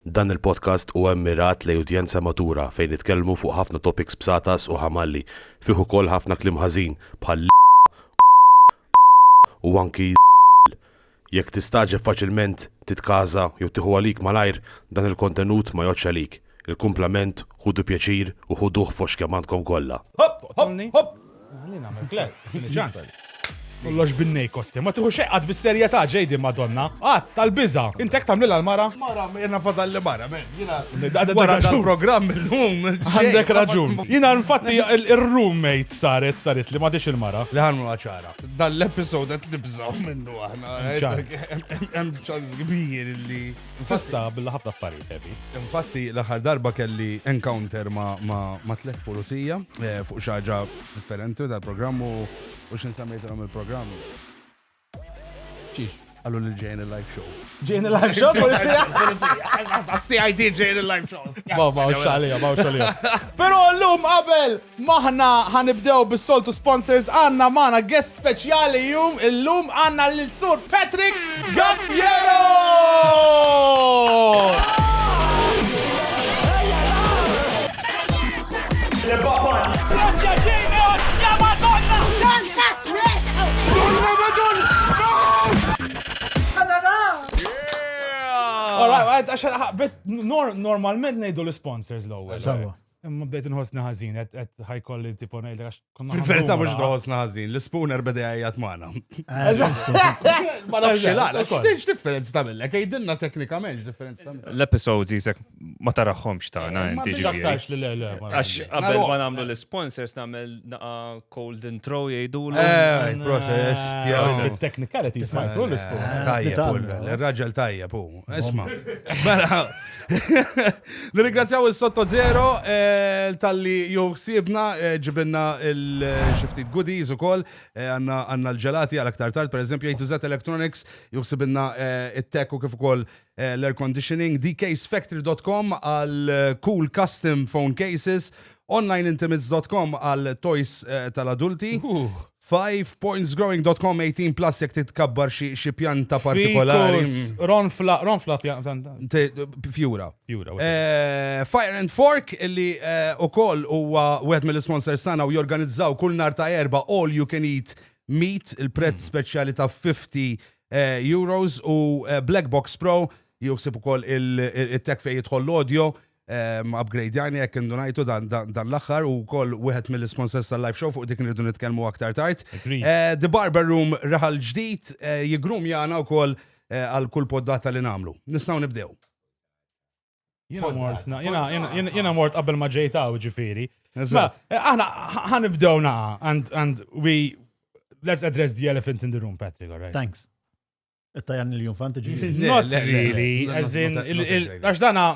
Dan il-podcast huwa mmirat lejn udjenza matura fejn nitkellmu fuq ħafna topics bsatas u ħamalli, fih ukoll ħafna kliem ħażin bħal l, u anki z, jekk tistagħġeb faċilment titkaża jew tieħu għalik malajr dan il-kontenut ma jgħoddx għalik, il-kumplament ħudu pjaċir u ħuduh fost kemm għandkom kollha. Għalina għamil klep, ċans. Kollox binnej kosti. Ma tiħu xeqqat bis-serjetà ġejdi madonna. Għat tal-biża. Intek tamlila l-mara? Mara, jena fadal li mara, men. Wara dal-programm il-lum. Għandek raġun. Jena nfatti il-roommate saret, saret li ma il-mara. Li ħannu għacħara. Dan l-episod għet nibżaw minnu għahna. Hemm ċans kbir li. Sissa bil ħafna affarijiet heavy. Infatti l-aħħar darba kelli encounter ma' tliet pulizija eh, fuq xaġa differenti tal-programm u x'in semmejtilhom il-programm. Ċiex, għallu li ġejn il-live show. Ġejn il-live show, polizija? Polizija, CID ġejn il-live show. Ma' ma' xalija, ma' xalija. Pero l-lum qabel M'aħna ħa nibdew bis-soltu sponsors għandna magħna guest speċjali jum illum għandna lil Sur Patrick Gaffiero! All right, għax normalment ngħidu l-sponsors l-ewwel. Sawa. Imma bdejt nħossni ħażin, qed ħajkolli tipo ngħid għax konna. Fil-verità mhux nħossna ħażin, l-ispuner beda jgħajjat magħna. Ma nafx laqla, x'tinx differenza tagħmilek, jgħidilna teknikament x'differenza tagħmilek. L-episodes jisek ma taraħħomx tagħna inti ġifieri. Għax li le le. Għax qabel ma nagħmlu l-sponsors nagħmel naqa cold intro jgħidu l eh, Process, process. Technicalities ma jkun l-sponsor. Tajjeb, l-raġel tajjeb, Isma. Mela. Nirringrazzjaw il-Sotto Zero eh, tal-li juħsibna eh, ġibinna il-xiftit goodies u koll eh, għanna l-ġelati għal aktar tard, per eżempju, A2Z Electronics juħsibinna il-tech u kif ukoll l-air conditioning, dcasefactory.com għal cool custom phone cases, onlineintimates.com għal toys tal-adulti. Uh. 5pointsgrowing.com 18 plus jek titkabbar xi pjanta partikolari. Ronfla, ronfla pjanta. Fjura. Fjura. Eh, Fire and Fork illi eh, u koll u wieħed mill-sponsors tagħna u jorganizzaw kull nar ta' erba all you can eat meat il-prezz mm. speċjali ta' 50 eh, euros u Black Box Pro juksib ukoll il-tek fejn jidħol l-audio upgrade jani jekk indunajtu dan l-axħar u koll wieħed mill-sponsors tal-live show fuq dik nirdu nitkellmu aktar tard. Eh, The Barber Room raħal ġdid eh, jigrum jana u koll eh, għal kull poddata li namlu. Nistaw nibdew. Jena mort qabel ma ġejta u ġifiri. Aħna ħanibdew naqa and we let's address the elephant in the room, Patrick, all right? Thanks. It-tajan il-junfanti ġiġi. Not really, as in, għax dana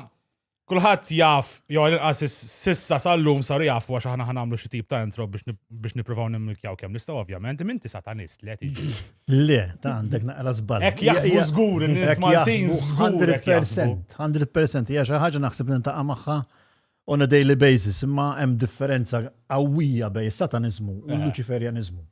kulħadd jaf, jew għal-inqas sissa sal-lum sar jaf għax aħna ħanamlu xi tip ta' intro biex nippruvaw nimmilkjaw kemm nistgħu ovvjament, minti satanist le tiġi. Le, ta' għandek naqra żball. Hekk jaħsbu żgur in-nies Maltin żgur. 100%, 100% hija xi ħaġa naħseb nintaqa' magħha on a daily basis, imma hemm differenza qawwija bejn satanizmu u l-Luċiferjaniżmu. Eh.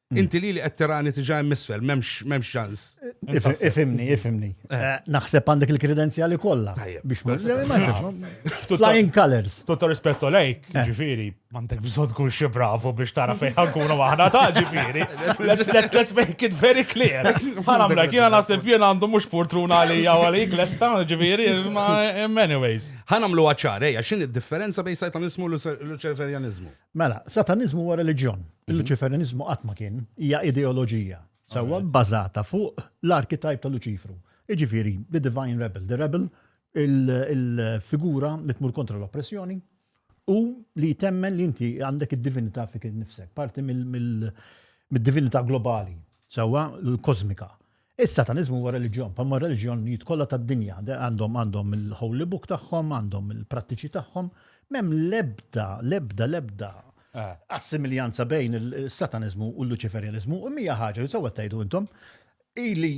Mm. Inti li li qed tirani tiġa hemm isfel, m'hemmx ċans. Ifimni, ifimni. Eh. Eh, naħseb għandek il-kredenzjali kollha biex ma Flying colors. Tutto rispetto lejk, eh. ġifieri, m'għandek bżonn tkun xi bravo biex tara fejn ħankunu aħna ta' ġifieri. Let's make it very clear. Ħanamla jiena naħseb jien għandu mhux portruna għalija għalik lesta ġifieri, ma anyways. Ħanamlu għaċar, ejja, x'in id-differenza bejn sajtanismu u l-ċerverjaniżmu? Mela, sataniżmu huwa reliġjon. Mhm. Il-Luċiferiniżmu qatt ma kien hija ideoloġija sewwa bbażata fuq l-arkitajp ta' Luċifru. Iġifieri, the divine rebel, the rebel il-figura li tmur kontra l-oppressjoni u li temmen li inti għandek id-divinità fik nifsek, parti mill-divinità globali, sewwa l-kosmika. Is-Sataniżmu huwa reliġjon, bħalma r-reliġjonijiet kollha tad-dinja. Għandhom għandhom il-holy book tagħhom, għandhom il-prattiċi tagħhom. M'hemm l-ebda, l-ebda, l-ebda assimiljanza bejn is-Sataniżmu u l-Luċiferjaniżmu. U mija ħaġa li sewwa tgħidu intom, ili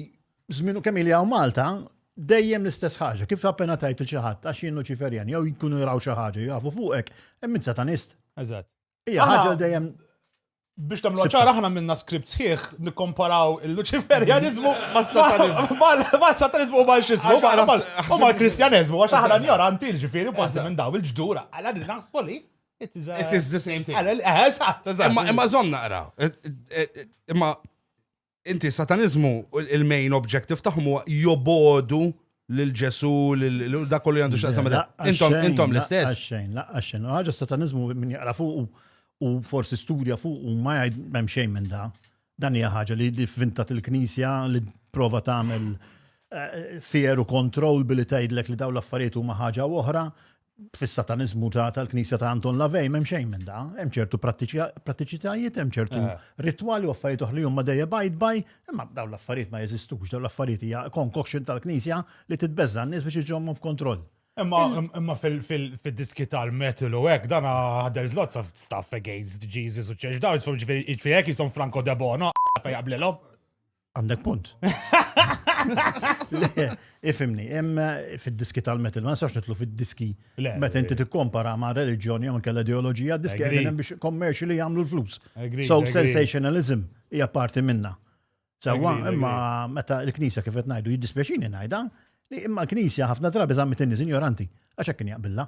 żmien kemm ili hawn Malta, dejjem l-istess ħaġa. Kif appena tgħid il xi ħadd għax jien Luċiferjan jew jkunu jraw xi ħaġa jafu fuqek, hemm min Satanist. Eżatt. Ija, ħagġa dejjem biex tamlu ċara ħana minna skript sħiħ nikkomparaw il-Luċiferjanizmu mal-satanizmu ma' xismu u mal-Kristjanizmu għax ħana njoranti l-ġifiri parti minn daw il-ġdura għala li naħsbu li it is the same thing. Imma zom naqra. Imma Inti, s-Sataniżmu, il-main objective tagħhom huwa jobogħdu lil Ġesu, lil dak kollu għandu x'taqsam Intom intom l-istess. Xejn, laqqa xejn. Ħaġa s-Sataniżmu min jaqra fuq u forsi studja fuq u ma jgħid m'hemm xejn minn da. Dan hija ħaġa li fvintat il-Knisja li prova tagħmel eh, fear u control billi tgħidlek li daw l-affarijiet huma ħaġa oħra fis-Sataniżmu tal-Knisja ta' Anton Lavej m'hemm xejn minn da, hemm ċertu prattiċitajiet, hemm ċertu eh. ritwali u affarijiet oħra li huma dejja bajd baj, imma dawn l-affarijiet ma jeżistux, dawn l-affarijiet hija concoction tal-Knisja li titbeżża n-nies biex iġommhom f'kontroll. Imma fil-diski tal-metal u hekk dan there's lots of stuff against Jesus u church dawns, ġifieri hekk jisom Franco Debono fejn qablilhom. Għandek punt. Ifimni, hemm eh, fid-diski tal-metal, ma nistax nitlu fid-diski meta inti tikkompara ma' reliġjoni jew inkella ideoloġija, diski għedin biex kommerċi li jagħmlu l-flus. So sensationalism hija parti minna. Sewa, imma meta l-Knisja kif qed ngħidu jiddispjaċini ngħidha, li imma l-Knisja ħafna drabi żammet in-nies injoranti għax hekk kien jaqbilha.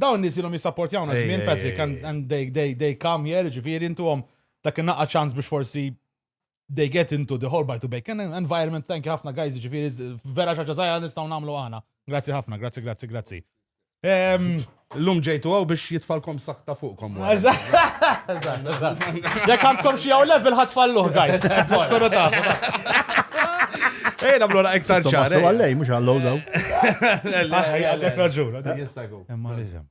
Dawn nies ilhom jissapportjawna żmien Patrick and they come here, jiġifieri ntuhom dak in-naqqa ċans biex forsi they get into the whole bite to bacon environment, thank you ħafna guys, jiġifieri vera xi ħaġa żgħira nistgħu nagħmlu aħna. Grazzi ħafna, grazzi, grazzi, grazzi. Illum ġejtu għaw biex jitfalkom saħta fuqkom. Jek għandkom xie għaw level ħat falluħ, guys. Kunu ta' Ej, namlu għaktar ċar. Għallej, mux għallow daw. Għallej, għallej, raġun. Tajbu. Imma l-isem.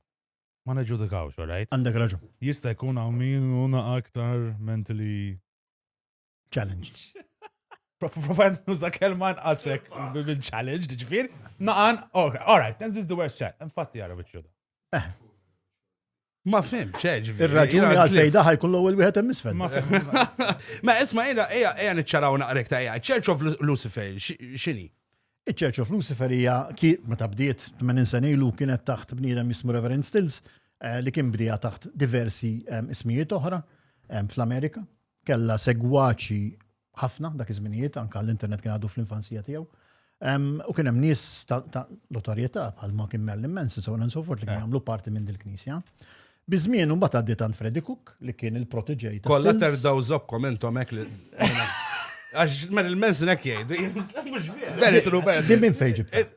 Ma neġġudikawx, all right? Għandek raġun. Jista' jkun hawn min hu naqa' aktar mentally challenged. Provajt nuża kelma nqasek minn challenge, ġifir, naqan, all right, that's just the worst chat. Infatti għara biex ġuda. Eh. Ma fimx, eh, ġifieri. Ir-raġuni għal fej daħa jkun l-ewwel wieħed hemm isfel. Ma Ma isma' ejja ejja ejja niċċaraw naqrek ta' ejja. Church of Lu- Lucifer xi- x'inhi? Iċ-Church of Lucifer hija ki- meta bdiet 80 sena ilu kienet taħt bniedem jismu Reverend Stills eh, li kien bdija taħt diversi em, ismijiet oħra em, fl-Amerika. Kella segwaċi ħafna dak iż-żminijiet, anka l-internet kien għadu fl-infanzija tiegħu. U kien hemm nies ta' notorjetà bħal ma kien Merlin Manson, so on and so forth, li kien eh. jagħmlu parti minn dil-knisja. Bizmien un bat għaddi tant Freddy Cook li kien il-proteġej ta' Kolla terdaw zobkom entom ek li. Għax mer il-mensin ek jgħidu. Verit Robert. Din minn fejġib. Eh,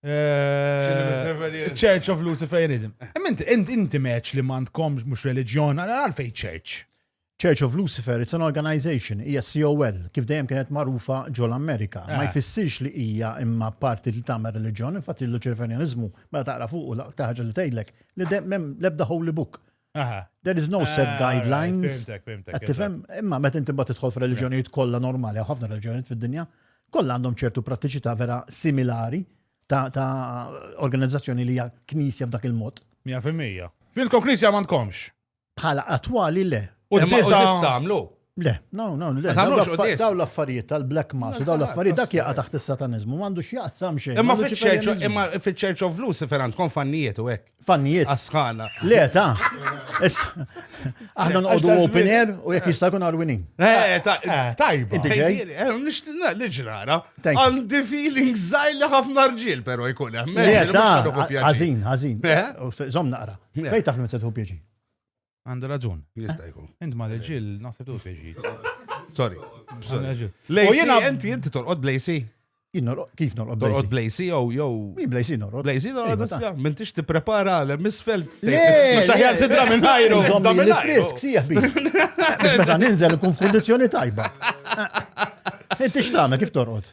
Eh, Church of Luciferism. Ment, eh. int inti meċ li mandkom mux religjon, għalfej church. Church of Lucifer, it's an organization, hija COL, kif dejjem kienet magħrufa ġol Amerika. Ma eh. jfissirx li hija imma parti li tagħmel reliġjon, infatti l-Luċerfenjanizmu meta taqra fuq u taħġa li tgħidlek li l-ebda holy book There is no set ah, guidelines. Tifhem, imma meta inti bat tidħol f'reliġjonijiet kollha normali, ħafna reliġjonijiet fid-dinja, kollha għandhom ċertu prattiċità vera similari ta' organizzazzjoni li hija knisja b'dak il-mod. 100%. Fintkom knisja m'għandkomx. Bħala attwali le. U tista' għamlu. Le, no, no, le. Daw l-affarijiet tal-black mass, daw l-affarijiet dak jaqa taħt is-satanizmu, mandu x'jaqsam xejn. Imma fil-Church of Lucifer ferant kon fannijiet u hekk. Fannijiet. Asħana. Le, ta' Aħna nqodu open air u jekk jista' jkun arwinin. Eh, eh, eh, tajba. Inti ġej? Nixtina li ġrara. Għandi feeling zajli ħafna rġil, pero jkun hemm. Le, ta' għażin, għażin. Zom naqra. Fejn taf li ma tħu pjaċi? Għandu raġun. Jista' jkun. Int ma l-ġil, naħseb tu keġi. Sorry. U jena inti inti torqod blejsi. Kif norqod blejsi? Torqod blejsi jew jew. Min blejsi norqod? Blejsi norqod. Min tix tipprepara l misfel. Xaħjar tidra minn ħajru. Zommi li frisk sieħ bi. Meta ninżel nkun f'kundizzjoni tajba. Inti x'tagħmel kif torqod?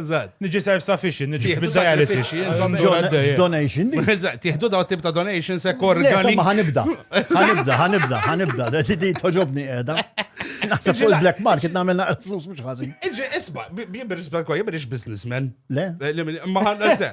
Eżatt. Niġi self-sufficient, niġi Tieħdu bid-dialysis. sakrifiċċji, Għandhom intom. ġol għaddej. Donation di. Eżatt, tieħdu daw tip ta' donation se Le, korgani. tomma ħanibda. Ħanibda, ħanibda, ħanibda. Da di- di toġobni qiegħda. Naħseb fuq il-black market nagħmel naqra flus mhux ħażin. Iġi, isma, jibir isbal kwa, jibir ix businessman. Le? Ma ħanna se.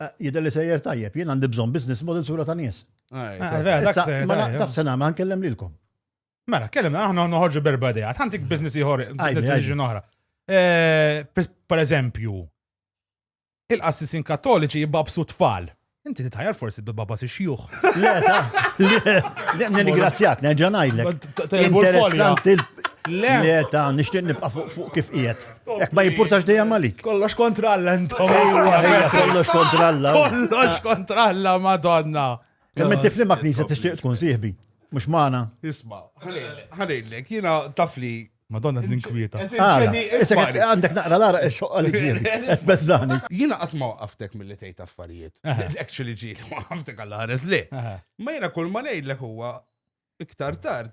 Eh, jidher li sejjer tajjeb, jien għandi bżonn business model sura ta' nies. Ah, taf sena ma nkellem lilkom. Mela, kellem aħna noħorġu berba dejja, għandik business ieħor, business decision oħra. Eh, per eżempju, il-qassisin kattoliċi jibbabsu tfal. Inti titħajar forsi bibaba si xjuħ. Le, ta' le, nirigrazzjak, nerġa' ngħidlek. Interessanti. Le, ta' nixtieq nibqa' fuq kif qiegħed. Ek ma jimpurtax dejjem għalik. Kollox kontra Alla intom. Kollox kontra Alla. Kollox kontra Alla, madonna. Kemm inti flimma knisja tixtieq tkun sieħbi. Mhux magħna. Isma', ħalejlek, jiena tafli Madonna t-ninkwieta. Għandek naqra l-ara xoqqa li ġiri. Bezzani. Jina għatma għaftek mill-li tejt affarijiet. Actually ġiri, għaftek għall-ħares li. Ma jina kull ma nejdlek huwa iktar tard.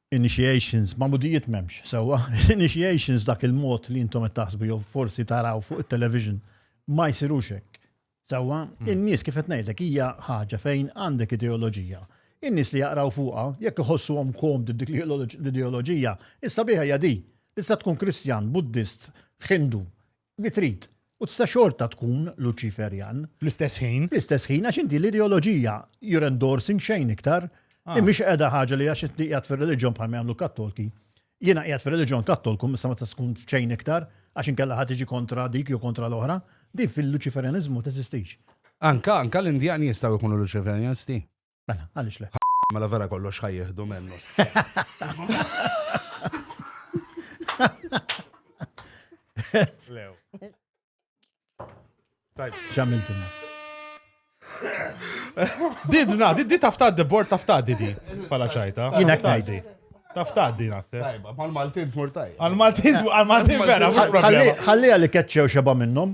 Initiations, magħmudijiet m'hemmx, sewwa? Initiations dak il-mod li intom qed taħsbu jew forsi taraw fuq it-television ma jsirux hekk. Sewwa, hmm. in-nies kif qed ngħidlek hija ħaġa fejn għandek ideoloġija in-nies li jaqraw fuqha, jekk iħossuhom komd dik l-ideoloġija, issa biħa jadi. Issa tkun Kristjan, Buddist, Hindu, li trid, u tista' xorta tkun Luċiferjan. Fl-istess ħin. Fl-istess ħin, għax inti l-ideoloġija, you're endorsing xejn iktar. Din mhix qiegħda ħaġa li għax inti qiegħed fir-reliġjon bħal ma jagħmlu Kattolki. Jiena qiegħed fir-reliġjon Kattolku issa ma tista' tkun xejn iktar, għax inkella ħa tiġi kontra dik jew kontra l-oħra. Din fil-Luċiferjaniżmu ma teżistix. Anka, anka l-Indjani jistgħu jkunu Luċiferjanisti. Mela, għaliex le? Mela vera kollox ħajjieħdu mennu. Lew. Tajb. Xamiltina. Didna, di tafta di bord tafta di di. Pala ċajta. Jina ktajdi. Tafta di naħseb. Tajba, mal-Maltin tmur tajba. Għal-Maltin, għal-Maltin vera, mux problema. Għalli għalli keċċew xeba minnom.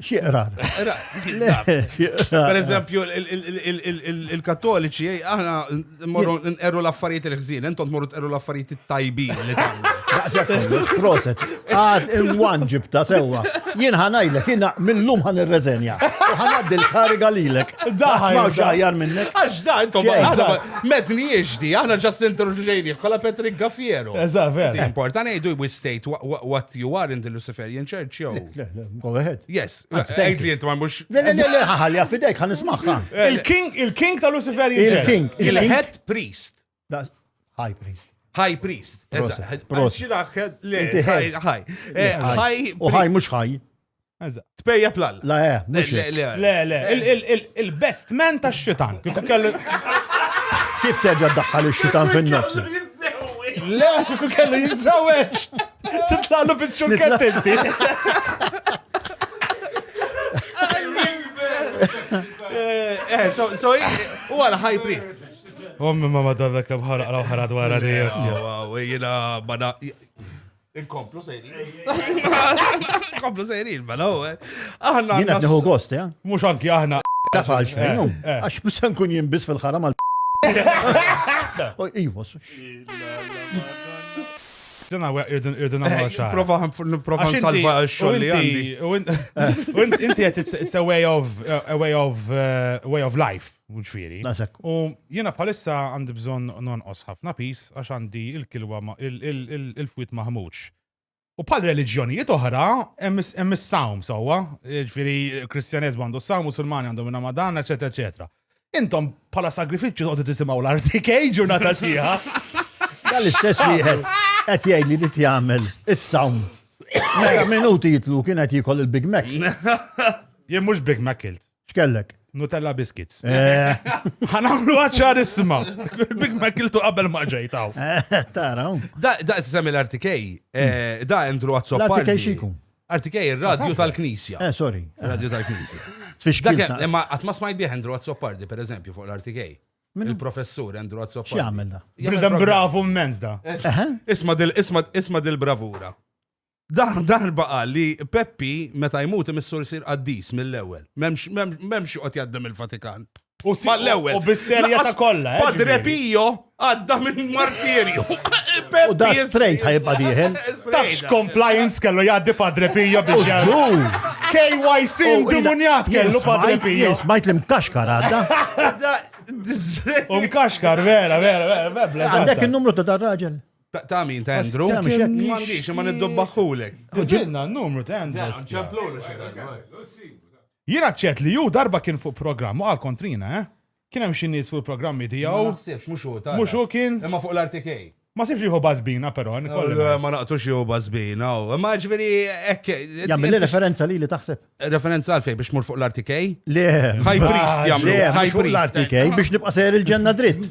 Xieqrar. Per eżempju, il-kattoliċi, aħna morru nqerru l-affarijiet il-ħżin, entom morru tqerru l-affarijiet tajbin li tagħmlu. Proset, għad il-wan ġibta sewa. Jien ħanajlek, jien mill-lum ħan il-rezenja. ħanaddi l-kariga lilek. Daħħa ma xaħjar minnek. Għax da, entom medni jiexdi, aħna ġast introduċejni, kolla Patrick Gaffiero. Eżaver. Important, jgħidu we state what you are in the Luciferian Church, jow. Go ahead. Yes. Għajt li jent ma mux. Le, le, le, ħalli għafidek, għan ismaħħa. Il-king, il-king ta' Lucifer Il-king. Il-head priest. High priest. High priest. Prost. High. High. U high mux high. Tpejja plal. La, eh, le, le, le. Il-best man ta' xitan. Kif terġa daħħal il-xitan fin-nofs? Le, kellu jizzawieċ. Titlalu bil-ċurket inti. Eh, eh, so, so, u għal high pre. Ommi ma madonna kem ħaraq raw ħarad wara di jossi. Wow, jina bada. Inkomplu sejri. Inkomplu sejri, bada u. Eh. Aħna. Jina t-neħu gost, ja? Mux anki aħna. Tafalx fejn, għax musan kun jimbis fil-ħaram għal. Ijwa, Dan għawek irridu namlu xaħ. Prova prova salva xogħol li għandi. U inti għet it's a way of a way of uh, way of life, ġifieri. Nasek. U jiena bħalissa għandi bżonn nonqos ħafna pis għax għandi il-kilwa il-fwit maħmuġ. U bħal reliġjonijiet oħra, hemm is-sawm sewwa, ġifieri Kristjaneżmu għandu s-sawm, Musulmani għandhom Ramadan, eċetera, eċetera. Intom bħala sagrifiċċju toqgħodu tisimgħu l-RTK ġurnata sħiħa. Dal-istess wieħed qed jgħid li rid jagħmel is-sawn. Meta minuti jitlu kien qed jikol il-Big Mac. Jien mhux Big Mac kilt. X'kellek? Nutella biscuits. Eh. Ħanamlu għacċar isma. Big Mac kiltu qabel ma ġejtaw. Eh, tara. Da, da, semmi l-RTK. Eh, da, Andrew Azzoppardi. L-RTK xikun? Arti kej, il-radju tal-knisja. Eh, sorry. Il-radju tal-knisja. Tfixkil. Imma għatma smajt bieħ Andrew Azzopardi, per eżempju, fuq l-Arti kej. Il-professur Andrew Azzopardi. X'jagħmel da? Bridem bravu mmenz da. Isma dil isma dil bravura. Dan darba qal li Peppi meta jmut imissur sir qaddis mill-ewwel. M'hemmx qod jaddem il-Vatikan. U mal-ewwel. U bis-serjetà kollha. Eh, Padre Pio għadda minn martirju. U da straight ħajba diħel. Tafx compliance kellu jgħaddi Padre Pio biex jgħaddu. KYC indimunjat kellu Padre Pio. Smajt li mkaxkar għadda. U mkaxkar, vera, vera, vera, vera. Għandek il-numru ta' dar raġel. Ta' min, ta' Andrew? Ta' min, mandiċ, ma niddobbaħulek. Ġibna, numru ta' Andrew. Jiena ċert li hu darba kien fuq programm u qal kontrina, eh? Kien hemm xi nies fuq il-programmi tiegħu. Ma naħsibx, mhux hu, tara. Mhux hu kien? Imma fuq l-RTK. Ma sibx jieħu bażbina però, ikolli ngħid. Le, ma naqtux jieħu bażbina hu. Imma jiġifieri hekk. Jagħmilli referenza lili taħseb? Referenza għal fejn biex mur fuq l-RTK? Le. High priest jagħmlu. Le, high priest. Fuq l-RTK biex nibqa' sejjer il-ġenna dritt.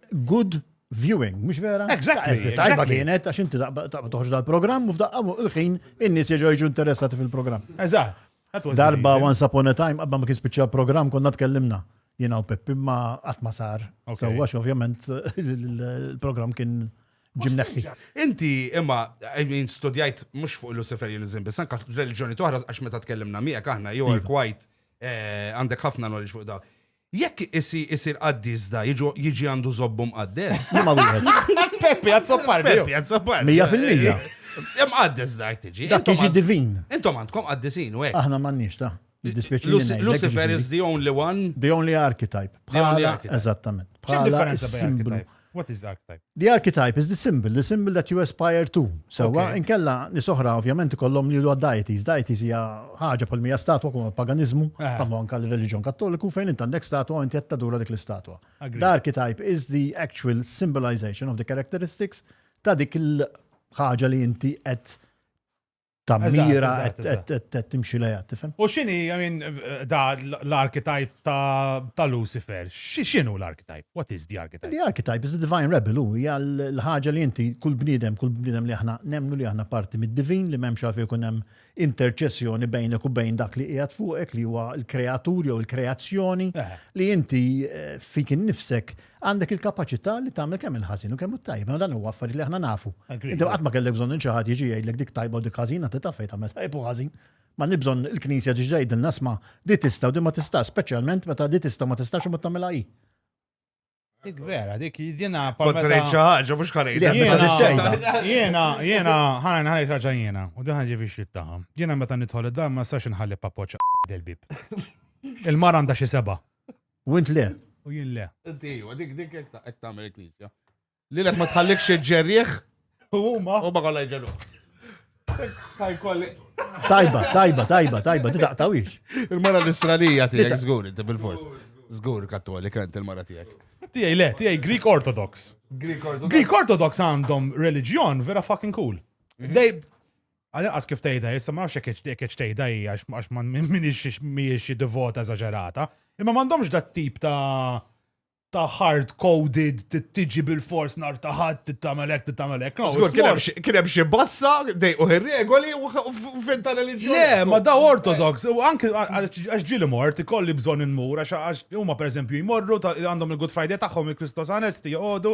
good viewing, mux vera? Exactly. Tajba kienet, għax inti taqba toħġ dal-program, u f'daqqa il-ħin in-nies jġu interessati fil-program. Eżatt. Darba eh? once upon a time, qabba ma kien spiċċa program konna tkellimna. Jina u Peppi ma għatma sar. Sewa ovvjament il-program kien ġimneħi. Inti imma, I mean, studjajt mux fuq Luciferianism, bis anka religġoni toħra għax meta tkellimna miegħek aħna, jew għal kwajt għandek ħafna knowledge fuq da. Jekk isi isir qaddis da jiġu jiġi għandu żobbu mqaddes? Liema wieħed? Peppi Azzopardi. Peppi Azzopardi. Mija fil-mija. Mqaddes da jekk tiġi. Dak jiġi divin. Intom għandkom qaddisin u hekk. Aħna m'għandniex ta. Lucifer is the only one. The only archetype. Bħala. Eżattament. X'differenza bejn archetype? What is the archetype? The archetype is the symbol, the symbol that you aspire to. Sewwa, inkella nies oħra ovvjament ikollhom li huwa deities. Deities hija ħaġa bħal mija statwa kum paganiżmu, bħalma anke l-reliġjon Kattoliku fejn int għandek statwa inti qed tadura dik l-istatwa. The archetype is the actual symbolization of the characteristics ta' dik il-ħaġa li inti qed ta' mira qed timxi lejha, tifhem? U x'inhi, I mean, da l-archetype ta' Lucifer, x'inhu l-archetype? What is the archetype? The archetype is the divine rebel, hu hija l-ħaġa li inti kull bniedem, kull bniedem li aħna nemnu li aħna parti mid-divin li m'hemmx għalfejn ikun hemm interċessjoni bejnek u bejn dak li qiegħed fuqek li huwa l-kreatur jew il-kreazzjoni li inti eh, fik innifsek Għandek il-kapaċità li tagħmel kemm il-ħażin u kemm it-tajjeb, imma dan huwa affarijiet li aħna nafu. Inti qatt ma kellek bżonn lil xi ħadd jiġi jgħidlek dik tajba u dik ħażina, inti taf fejn tagħmel tajjeb u ħażin. M'għandniex bżonn il-Knisja tiġi tgħidilna isma' din tista' u din ma tistax, speċjalment meta din tista' u ma tistax u ma tagħmilha hi. Dik vera, dik jiena Kont se ngħid xi ħaġa mhux ħa ngħidha. Jiena, jiena, ħana nħalli raġa jiena, u diħan ġifi xit taħħa. Jiena meta nidħol id-dar ma sax nħalli papoċa del-bib. Il-mar għandha xi seba' U int le. U jien le. Diju, dik dik hekk ta' hekk tagħmel il-Knisja. Lilek ma tħallikx iġġerrieħ U huma. u ma kollha jġerru. Tajba, tajba, tajba, tajba, di taqtawix. Il-mara l-Israelija tiegħek żgur inti bil-fors. Żgur kattolika int il-mara tiegħek. Tiegħi le, tiegħi Greek Orthodox. Greek Orthodox. Greek Orthodox għandhom reliġjon vera fucking cool. They Għal inqas kif tgħidha issa ma nafx jekk hekk tgħidha hija għax ma minix mhijiex xi divota eżaġerata, imma m'għandhomx dat tip ta' ta' hard coded tiġi bil-fors nar ta' ħadd tittamel hekk tittamel hekk. Kien hemm xi bassa dejqu ir-regoli u finta reliġjoni. Le, ma da ortodox, u anke għax ġieli mort ikolli bżonn inmur għax huma pereżempju jmorru għandhom il-Good Friday tagħhom il-Kristos Anesti joqogħdu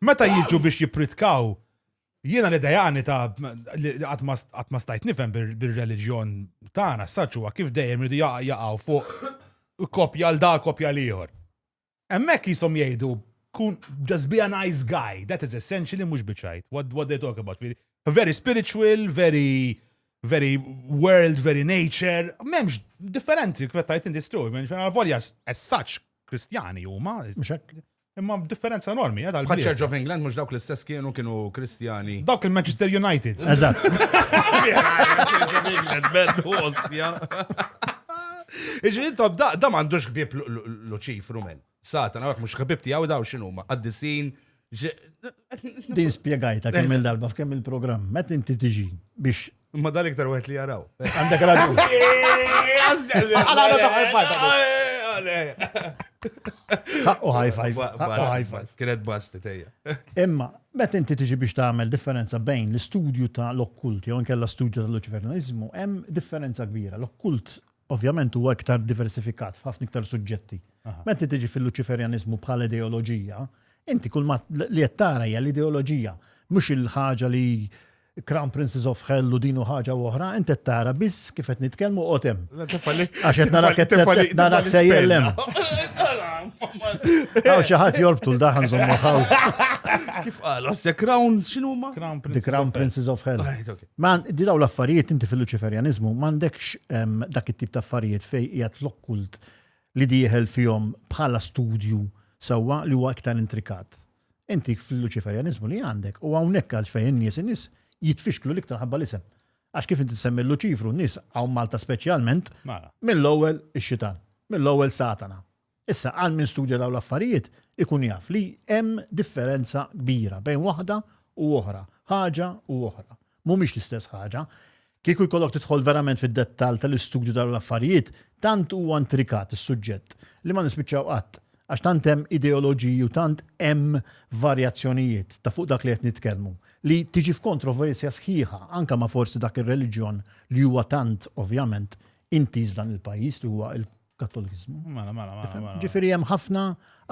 Meta jiġu biex jippritkaw, jiena li dajani ta' qatt ma stajt nifhem bir-reliġjon tagħna s-saċ huwa kif dejjem irdu jaqgħu fuq kopja l da kopja l-ieħor. Hemmhekk jisom jgħidu kun just be a nice guy, that is essentially mhux biċajt, what, what they talk about. Very spiritual, very very world, very nature, memx differenzi kif tajt in this story, volja as such Kristjani huma. Mhux hekk. Imma differenza enormi, għadha l Church of England mhux dawk l-istess kienu kienu Kristjani. Dawk il-Manchester United. Eżatt. Iġri intom da da m'għandux ħbieb Luċifru men. Satan, għak mhux ħbieb tiegħu daw x'inhuma, qaddisin, Din spiegajta kemm il-darba f'kemm il-programm, met inti tiġi biex. Ma dan iktar wieħed li jaraw. Għandek raġun. U high five. High five. Kienet basti tejja. Imma, met inti tiġi biex tagħmel differenza bejn l-istudju ta' l-okkult jew inkella studju ta' l-ċivernizmu, hemm differenza kbira. L-okkult ovvjament huwa iktar diversifikat f'ħafna iktar suġġetti. Meta tiġi fil-Luċiferjanizmu bħala ideoloġija, Inti kull ma li qed tara hija l-ideoloġija, mhux il-ħaġa li Crown Princes of Hell u din u ħaġa u oħra, inti qed tara biss kif qed nitkellmu qod hemm. Għax qed narak qed narak sejjer hemm. Għaw xi ħadd jorbtu l-daħan żommu ħaw. Kif qal, osse Crown x'inhu ma? Crown Princes. The Crown Princes of Hell. Ma di daw l-affarijiet inti fil-Luċiferjaniżmu m'għandekx ehm, dak it-tip ta' affarijiet fejn qiegħed l-okkult li dieħel fihom bħala studju sewwa li huwa iktar intrikat. Inti fil-Luċiferjaniżmu li għandek, u hawnhekk għal x'fejn in-nies in-nies jitfixklu l-iktar ħabba l-isem. Għax kif inti semmi l-Luċifru, n-nies hawn Malta speċjalment, mela. mill-ewwel ix-xitan, mill-ewwel Satana. Issa għal min studja dawn l-affarijiet ikun jaf li hemm differenza kbira bejn waħda u oħra, ħaġa u oħra. mhumiex l-istess ħaġa. Kieku jkollok tidħol verament fid-dettall tal-istudju ta' l-affarijiet, tant huwa intrikat is-suġġett li ma nispiċċaw qatt, għax tant hemm ideoloġiji u tant hemm varjazzjonijiet ta' fuq dak li qed nitkellmu, li tiġi f'kontroversja sħiħa anke ma' forsi dak ir-reliġjon li huwa tant, ovvjament, intiż f'dan il-pajjiż li huwa Kattolikiżmu. Mela, mela, mela, mela. Ġifieri hemm ħafna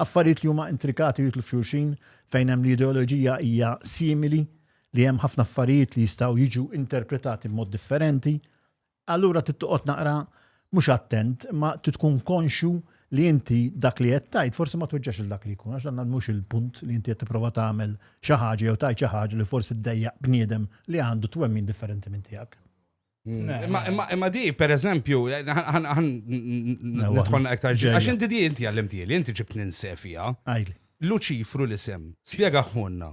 affarijiet li huma intrikati jitlu f'xulxin fejn hemm l-ideoloġija hija simili li hemm ħafna affarijiet li jistgħu jiġu interpretati b'mod differenti. Allura tittoqgħod naqra mhux attent, ma titkun konxu li inti dak li qed tajt forsi ma tweġġax il dak li jkun, għax dan mhux il-punt li inti qed tipprova tagħmel xi ħaġa jew tajt xi ħaġa li forsi ddejjaq bniedem li għandu twemmin differenti minn tiegħek. Imma di, per eżempju, nħonna iktar ġej. Għax inti di inti għallimtieli, inti ġib ninsefija. Għajli. Luċifru l-isem, spiega ħunna.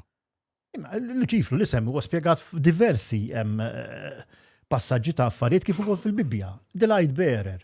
Luċifru l-isem huwa spiegat f'diversi eh, passaġġi ta' affarijiet kif ukoll fil-Bibbja. Delight bearer.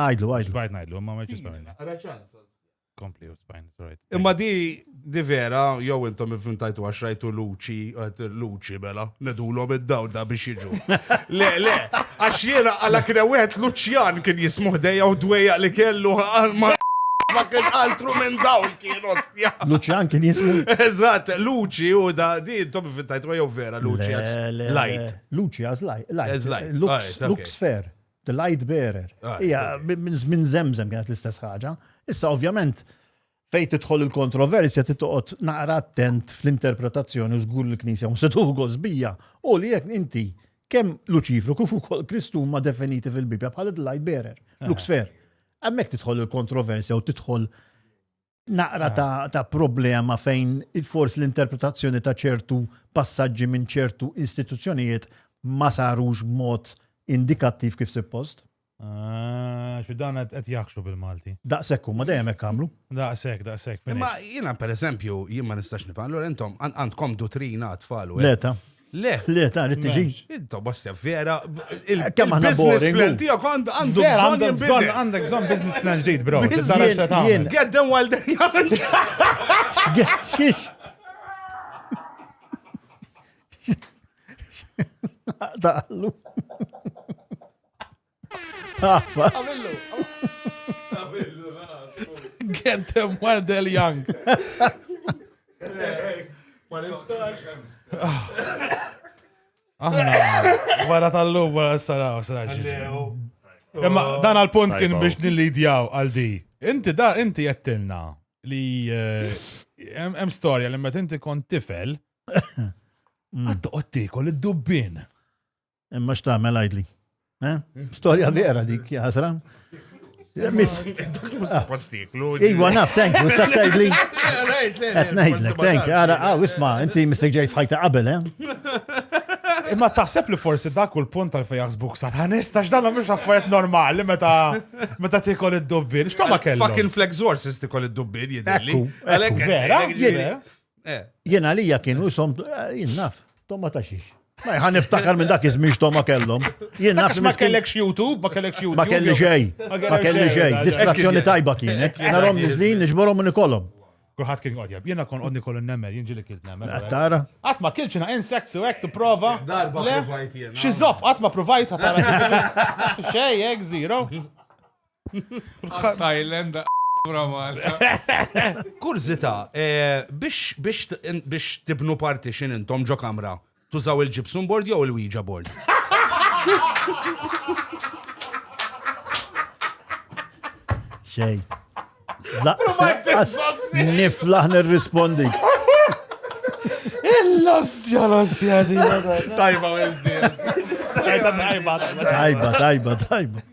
Għajdlu, għajdlu. Xbajt najdlu, ma marċi spajna. Kompli u spajn, right. Imma di, di vera, jow intom infintajtu għax rajtu luċi, luċi bela, nedulom id-daw da biex jiġu. Le, le, għax jena għala kien għet luċjan kien jismuħ dejja u dweja li kellu għalma ma kien altru minn daw kien ostja. Luċjan kien jismu. Eżat, luċi u da, di intom infintajtu għaw vera luċi għax. Light. Luċi għax light. Lux fair. The light bearer. Ah, Ija, minn zemzem kienet l-istess ħaġa. Issa, ovvjament, fej tidħol il-kontroversja titoqgħod naqra attent fl-interpretazzjoni u żgur l-Knisja u setu gosbija u li jekk inti kemm Luċifru kif ukoll Kristu huma definiti fil-Bibbja bħala light bearer, eh. luxfer. Hemmhekk tidħol il-kontroversja u tidħol naqra ta', ta problema fejn forsi l-interpretazzjoni ta' ċertu passaġġi minn ċertu istituzzjonijiet ma sarux b'mod indikattiv kif suppost. Ah, xi dan qed jaħxu bil-Malti. Daqshekk huma dejjem hekk għamlu. Daqshekk, daqshekk. Imma jiena pereżempju jien ma nistax nifhem, allura intom għandkom dutrina tfal u. Leta. Le. Le, ta' li tiġi. Intom bosta vera. Kemm aħna business plan tiegħek għandu għandu bżonn bżonn għandek bżonn business plan ġdid, bro. Get them while they're young. Daħlu. Get them while they're young. Ma nistax. Aħna, wara tal-lum, wara s-saraw, s-saraw. Imma dan għal-punt kien biex nil-lidjaw għal di. Inti da, inti jettilna li eh, hemm storja li meta inti kont tifel, għattu għattikol id-dubbin. Imma x'tagħmel għidli. Eh? Storja vera dik, jasra. Miss. Iwa naf, thank you, sa' tajdli. Għet najdlek, thank you. Għara, għaw, ah, isma, inti missek ġejt fħajta qabel, eh? Imma taħseb li forsi dak u l-punt tal fejax jaħsbuk sa tħanista x'dan mhux affarijiet normali meta meta tikol id-dubbin. X'toma kellu? Fucking flex horses tikol id-dubbin jidilli. Vera? Eh. Jien għalija kienu jisom, eh, jien naf, tomma ta' xiex. Ma jħan niftakar minn dak iż-żmien x'tomma kellhom. Jien naf ma kellekx YouTube, ma kellekx YouTube. Ma kelli xej, ma kelli xej. Distrazzjoni tajba kienet. Narhom niżlin niġborhom minn ikollhom. Kulħadd kien qodjab. Jiena kon qodni kollu nemel, jien ġili kilt nemel. Tara. Qatt ma kilċina insects u hekk tipprova. Darba provajt jien. Xi żopp qatt ma provajt ħatara. Xej, hekk zero. Thailand, Kurzita, eh, biex tibnu parti xin intom ġo kamra, tużaw il-ġipsum board jew il-Ouija board? Xej. Niflaħ nirrispondi. Il-lostja, lostja, di. Tajba, Tajba, tajba, tajba, tajba.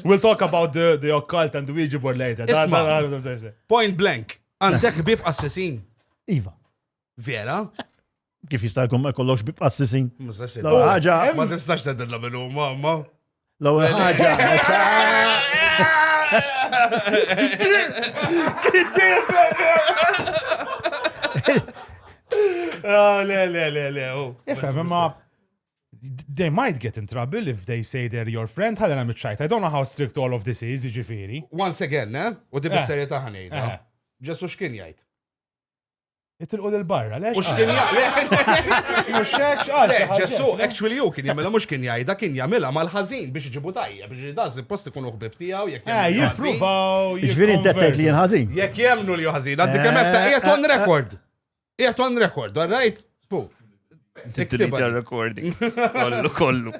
We'll talk about the, the occult and the Ouija board later. Isma. Point blank. Għandek bib assisin. Iva. Vera? Kif jista' jkun ma jkollokx bib assisin? L-ewwel ħaġa. Ma tistax tedilla minnu, mamma. L-ewwel ħaġa. Ah, le, le, le, le. Oh. Ifhem, imma they might get in trouble if they say they're your friend, ħalli nagħmel ċajt. I don't know how strict all of this is, jiġifieri. Once again, eh? U di bis-serjetà ħanejda. Ġesu x'kien jgħid? Itilqu lil barra, lex? Mhux kien jgħid. Mhux hekk x'qal. Ġesu, actually hu kien jagħmilha mhux kien jgħidha kien jagħmilha mal-ħażin biex iġibu tajja, biex dan suppost ikun uħbib tiegħu jekk jagħmlu. Jippruvaw. Ġifieri intettajt li jien ħażin. Jekk jemnu li ħażin, għandi kemm qed taqgħet on record. Qiegħed on record, all right? Pu. Tittilita recording. Kollu, kollu.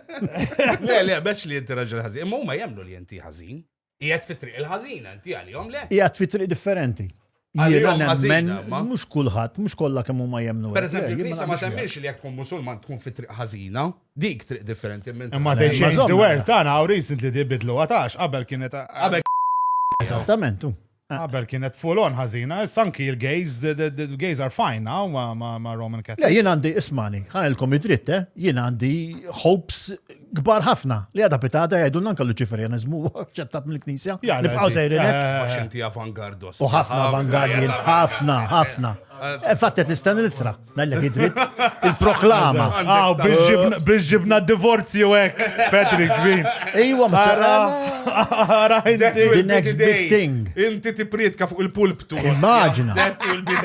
Le, le, beċ li jinti raġel ħażin. Imma huma jemnu li jinti ħażin. Qiegħed fit-triq il-ħażin, inti għalihom le. Qiegħed fit-triq differenti. Jiena nemmen, mhux kulħadd, mhux kollha kemm huma jemnu. Per eżempju, il-Knisja ma temminx li jekk tkun Musulman tkun fit-triq ħażina, dik triq differenti minn. Imma they change the word tagħna how recently they bidlu għatax qabel kienet. Qabel Esattament. Qabel kienet full on ħażina, issa anki l-gays, l-gays are fine now ma' Roman Catholics. Le, jien għandi, ismani, ħanilkom id-dritt, eh? jien għandi hopes kbar ħafna li għada pitata jgħidu nanka l-Luċiferianizmu ċettat mill-Knisja. Nibqaw sejrin hekk. Għax inti avangardos. U ħafna avangardi, ħafna, ħafna. Fattet nistenni l-ittra. Mellek id-dritt. Il-proklama. Għaw, biex ġibna divorzi u ek, Patrick, ġbin. Ejwa, msara. Ara, the next big thing. Inti ti prietka fuq il-pulptu. Immaġina.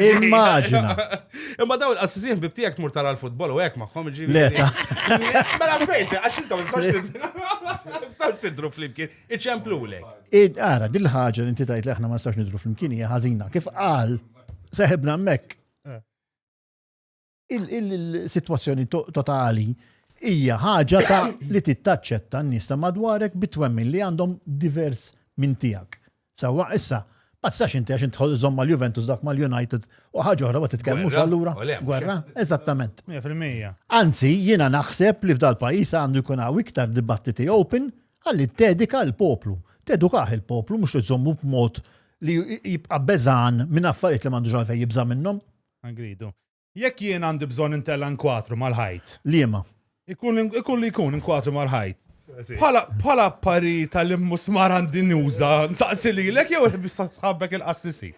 Immaġina. Imma daw il-qassisin bibtijak tmur tara l-futbol u ek maħħom ġibin. Leta. Mela fejt, għax intom, s-sax tidru fl-imkien, iċemplu lek. Id, għara, dil-ħagġa li inti tajt li aħna ma s-sax nidru fl-imkien, hija ħazina. Kif għal, seħibna mek il-sitwazzjoni totali hija ħaġa ta' li tittaċċetta n-nies ta' madwarek bit-twemmin li għandhom divers minn tiegħek. Sewwa issa, ma tistax inti għax intħol żomm mal-Juventus dak mal-United u ħaġa oħra ma titkellmux allura. Gwerra, eżattament. 100%. Anzi, jiena naħseb li f'dal-pajjiż għandu jkun hawn iktar dibattiti open Ħalli ttedika l-poplu. Tedukah il-poplu, mhux li żżommu b'mod li jibqa' beżgħan minn affarijiet li m'għandux għalfejn jibża' minnhom. Gridu. Jekk jien għandi bżonn intella' inkwatru mal-ħajt. Liema? Ikun li jkun, inkwatru mal-ħajt. Bħala appari tal-immusmar għandi nuża, nsaqsi lilek jew sħabek il-qassisi?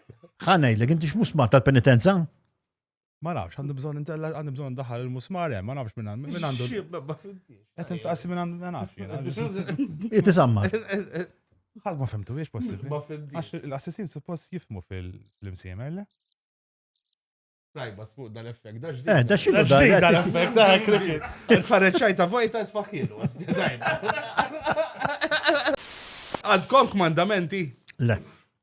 Ħa ngħidlek, inti x'musmar tal-penitenza? Ma nafx, għandi bżon intella, għandi bżon daħal il-musmar, eh, ma nafx minn għandu. Minn għandu. Għet nsaqsi minn għandu, ma nafx. Jitisamma. Għad ma fimtu, jiex possibli. Ma fimtu. Għax l-assessin suppost jifmu fil-imsiemer, le? Tajba, sfuq dal-effekt, daġdi. Eh, daġdi dal-effekt, daħ eh, krikit. Il-ħarreċajta vojta t-faxilu. Għadkom kmandamenti? Le.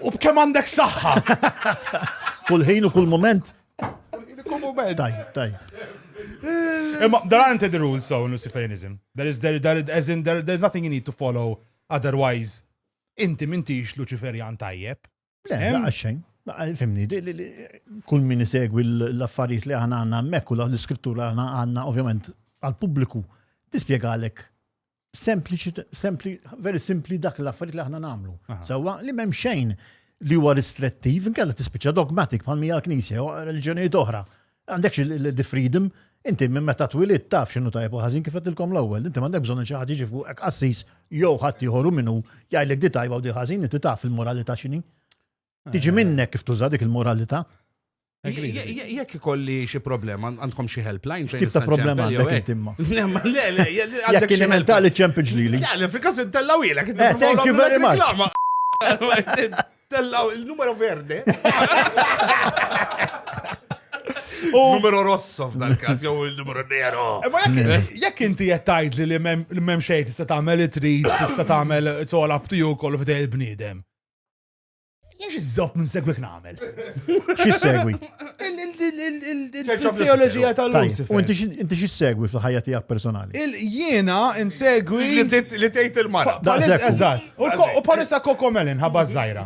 U b'kemm għandek saħħa? Kull ħin u kull moment. Kull moment. Taj, taj. Imma there aren't the rules so in Luciferianism. There is there, there as in there, there's nothing you need to follow otherwise inti mintix Luciferjan tajjeb. Le, għaxxejn. Fimni, kull min isegwi l-affarijiet li għana għanna mekku l-iskrittura għana għanna ovvjament għal-publiku tispiegalek Sempliċi, sempli, very simpli dak l-affarijiet li aħna nagħmlu. Sewwa li m'hemm xejn li huwa ristrettiv, inkella tispiċċa dogmatik bħal mija knisja u reliġjonijiet oħra. Għandekx il-the freedom, inti minn meta twilit taf x'inhu tajjeb u ħażin kif qedtilkom l-ewwel, inti m'għandek bżonn xi ħadd jiġi fuqek qassis jew ħadd ieħor u minnu jgħidlek di tajba u di ħażin, inti taf il-moralità x'inhi. Tiġi eh. minnek kif tuża dik il-moralità. Jekk ikolli xi problema, għandkom xi helpline fejn. Tibta problema għandek intimma. Le, le, jekk kien hemm tali ċemp ġlili. Le, fil-każ intellaw ilek. Eh, thank you very much. Tellaw il-numero verde. Numero rosso f'dal każ jew il-numero nero. Eh, ma jekk inti qed tgħid li m'hemm xejn tista' tagħmel it-trid, tista' tagħmel it's all up to you kollu f'dej il-bniedem. Jiex iżżob minn segwik nagħmel. Xi segwi? Il-teoloġija tal-Lucifer. U inti xi segwi fil-ħajja tiegħek personali? Jiena insegwi. Li tgħid il-mara. Daqshekk. Eżatt. U palissa kokomelin ħabba żgħira.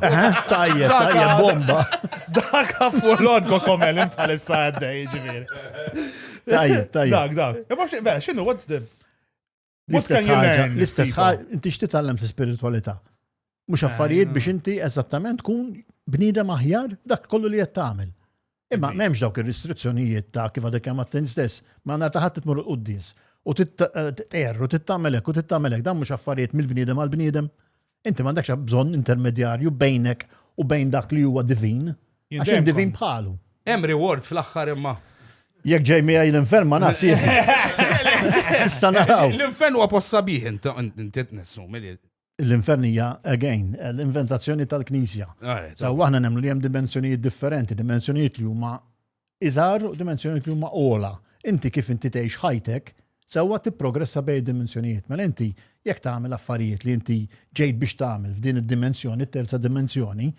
Tajjeb, tajjeb bomba. Dak fuq kokomelin palissa għaddej ġifieri. Tajjeb, tajjeb. Dak, dak. Imma vera, x'inhu what's the L-istess ħaġa, l-istess ħaġa, inti x'titgħallem fl-ispiritualità. Mhux affarijiet biex inti eżattament tkun bniedem aħjar dak kollu li qed tagħmel. Imma m'hemmx dawk ir-restrizzjonijiet ta' kif għadek kemm għattin stess, ma nhar ta' ħadd tmur quddis u titqer u tittamel hekk u tittamel hekk dan mhux affarijiet mill-bniedem għall-bniedem. Inti m'għandekx bżonn intermedjarju bejnek u bejn dak li huwa divin, għax hemm divin bħalu. Hemm reward fl-aħħar imma. Jekk ġej miegħi l-infern ma nafx Issa naraw. L-infern huwa post sabiħ inti nessum li l-infern hija again l-inventazzjoni tal-Knisja. Saw aħna nemmnu li hemm dimensjonijiet differenti, dimensjonijiet li huma iżgħar u dimensjonijiet li huma ogħla. Inti kif inti tgħix ħajtek sewwa tipprogressa bejn id-dimensjonijiet. Mela inti jekk tagħmel affarijiet li inti ġejt biex tagħmel f'din id-dimensjoni, it-terza dimensjoni,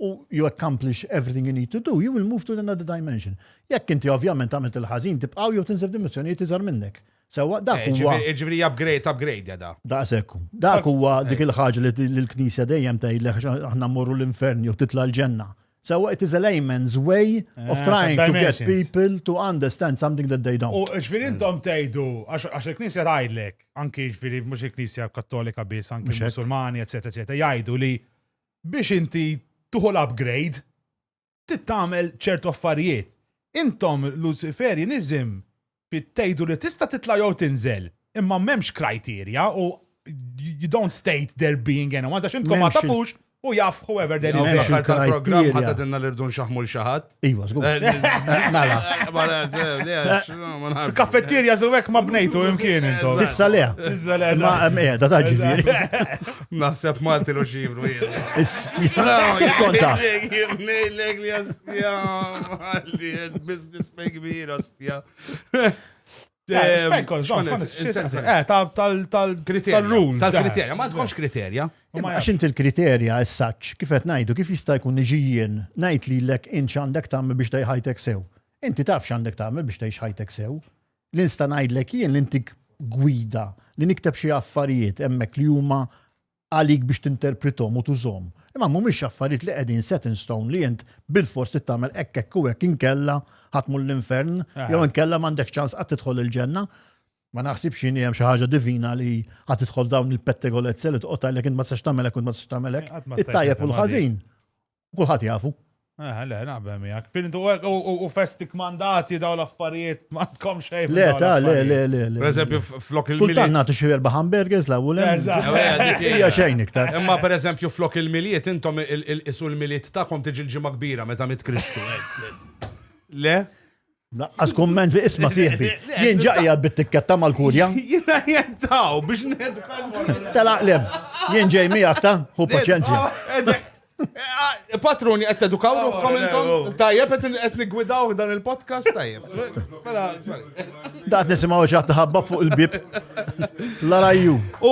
u you accomplish everything you need to do, you will move to another dimension. Jekk inti ovvjament għamilt il-ħażin tibqgħu jew tinżel f'dimensjonijiet iżgħar minnek. Sewwa dak eh, huwa. Ġifieri upgrade, upgrade jada. Daqshekk. Dak huwa eh. dik il-ħaġa li l-Knisja dejjem tgħidlek aħna mmorru l-infern jew titla' l-ġenna. Sewwa it is a layman's way of trying to get people to understand something that they don't. U ġifieri intom tgħidu għax il-Knisja tgħidlek, anki ġifieri mhux il-Knisja Kattolika biss, anki Musulmani, eċetera, eċetera, jgħidu li biex inti tuħu l-upgrade tittamel ċertu affarijiet. Intom Luciferjaniżm Trid tgħidu li tista' titla' jew tinżel, imma m'hemmx krajterja u you don't state there being anyone, għax intkom ma tafux u jaf whoever there is. Fl-aħħar tal-programm ħadd għadinna li rdu nxaħmu l-xaħat. Iva, żgur. Eh, mela. Il-kaffettirja żewek ma bnejtu imkien intom. Sissa le. Sissa le. Ma qiegħda ta' ġifieri. Naħseb Malti lu xivru jien. Kif konta? Jibnejlek li jastjam. Għalli, business me kbira. Tal-rules. Tal-kriterja, ma tkunx kriterja. Għax inti l-kriterja essaċ, kif qed ngħidu, kif jista' jkun niġijien ngħid lilek int x'għandek tagħmel biex tgħix ħajtek sew. Inti taf x'għandek tagħmel biex tgħix ħajtek sew. L-insta ngħidlek jien li intik gwida li nikteb xi affarijiet hemmhekk li huma għalik biex tinterprithom u tużhom, imma mhumiex affarijiet li qegħdin set in stone li int bilfors trid tagħmel hekk hekk u hekk inkella ħa tmur l-infern jew inkella m'għandekx ċans qatt tidħol il-ġenna. Ma naħsibx inhi hemm xi ħaġa divina li ħa tidħol dawn il-pettegolezze li toqgħod għalhekk int ma tistax tagħmel hekk u ma tistax tagħmel hekk. It-tajjeb u l-ħażin. Kulħadd jafu. Eh, le, naqbel miegħek. Fintu hekk u festik mandati daw l-affarijiet ma tkom xejn. Le, ta, le, le, le. Per eżempju, flok il-miliet. Kultant nagħtu xi erba' hamburgers la wulem. Hija xejn iktar. Imma per eżempju, flok il-miliet intom isu l-miliet tagħkom tiġi l-ġimgħa kbira meta mit Kristu. Eh, le? Naqqas kumment bi isma sieħbi. Jien ġaqja bit-tikketta mal-kulja. Jina jettaw biex nedħal. Tela qlem. Jien ġej miegħek ta' hu paċenzja. Patruni qed tedukaw ruħkom intom. Tajjeb qed nigwidaw dan il-podcast tajjeb. Mela, Daqt nisimgħu xi ħabba fuq il-bib. Larajju. U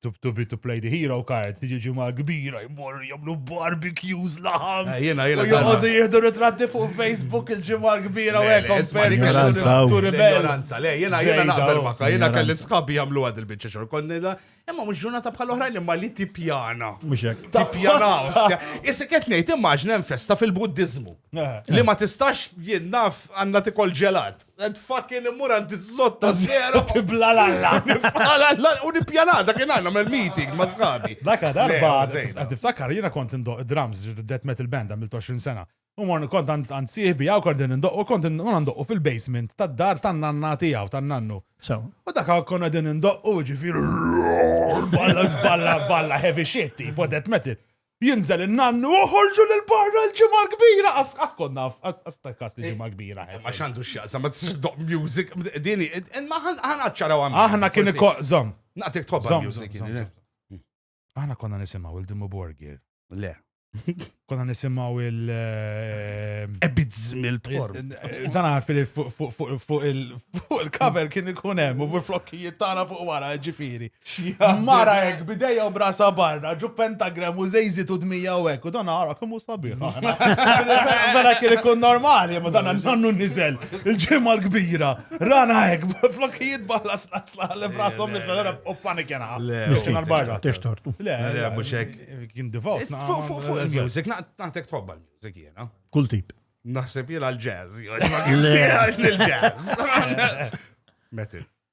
to, to be to play the hero card, tiġi ġimgħa kbira jmur jagħmlu barbecues laħam. Eh, jiena jiena jgħodu jieħdu ritratti fuq Facebook il-ġimgħa kbira u hekk komperi l-ignoranza. Le, jiena jiena naqbel maka, jiena kelli sħabi jagħmlu għad il-biċċa xogħol konnida, imma mhux ġurnata bħal oħrajn imma li tippjana. Mhux hekk. Tippjana. Issa qed ngħid immaġna hemm festa fil-Buddiżmu. Eh. Li ma tistax jien naf għandna tikol ġelat. Għed fucking immur għanti zotta zero. Tibla l-alla. Nibla l-alla. U nibja l-alla, dak il-għanna mel meeting ma zgabi. Dak darba, għed iftakar, jina kont indoq drums, death metal band għamil 20 sena. U morni kont għand siħbi għaw kont indoq, u kont indoq fil-basement tad dar tan nanna tijaw, tan nannu. U dak għaw kont għedin indoq, u ġifir, balla, balla, balla, heavy shit, tipo death metal. Jinżel in-nannu u ħorġu lil barra l-Ġimgħa l-Kbira! Qass qass kont naf, qass qass ta' każ li Ġimgħa l-Kbira ħesel. Ma x'għandu x'jaqsam, ma tistax ddoqq music, din hi, ma ħa ħa naċċaraw hawn. Aħna kien iko, żomm. Naqtik tħobb Żomm, music. żomm, żomm, żomm. Aħna konna nisimgħu il Dimmu Borgir. Le. Konna nisimgħu il eh, Ebid żmil tħor. Dan għarf li fuq fuq- fuq- fuq il- fuq il-cover kien ikun hemm u l-flokkijiet tagħna fuq wara ġifieri. Mara hekk bidejja u brasa barra, ġu pentagram u zejzit u dmija u hekk, u dan għara kemm hu sabiħ. Vera kien ikun normali, ma dan nannu niżel. Il-ġimgħa l-kbira, rana hekk, flokijiet balla slazzla li brasom nisbel era u panik jena. Miskin barra. Tex tortu. Le, le, mhux hekk. Kien divorce. Fuq il-music, naqtatek tħobba l-music jena. Kull tip. Naħseb jela l-jazz. Le, l-jazz. Metin.